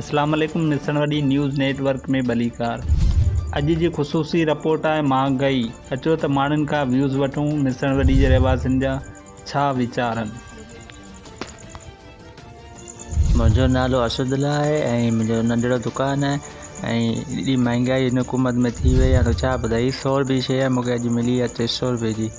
اسلام عليڪم ملسڻ وڏي نيوز نيٽ ورڪ ۾ ڀليڪار اڄ جي خصوصي رپورٽ آهي مهانگئي اچو ته ماڻهن کان ويوز وٺون ملسڻ وڏي جي رهواسين جا ڇا ويچار آهن. منهنجو نالو ارشد الله آهي ۽ منهنجو ننڍڙو دڪان آهي ۽ ايڏي مهانگائي هن حڪومت ۾ ٿي وئي آهي ته ڇا ٻڌايان هي سؤ رپئي جي شيء مونکي اڄ ملي آهي ٽي سؤ رپئي جي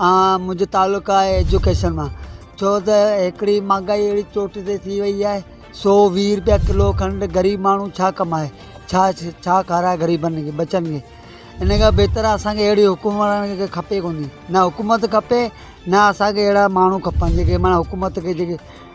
منهنجو تعلق آهي ايجوڪيشن مان ڇو ته هڪڙي مهانگائي اهڙي چوٽي تي ٿي وئي آهي سو ويهه رپيا ڪلو کنڊ غريب ماڻهو ڇا ڪمائي ڇا ڇا کارائي غريبن کي ٻچن کي ان کان بهتر آهي اسانکي اهڙي حڪمراني ڪي کپي ڪونهي نه حڪومت کپي نه اسانکي اهڙا ماڻهو کپن جيڪي معنيٰ حڪومت کي جيڪي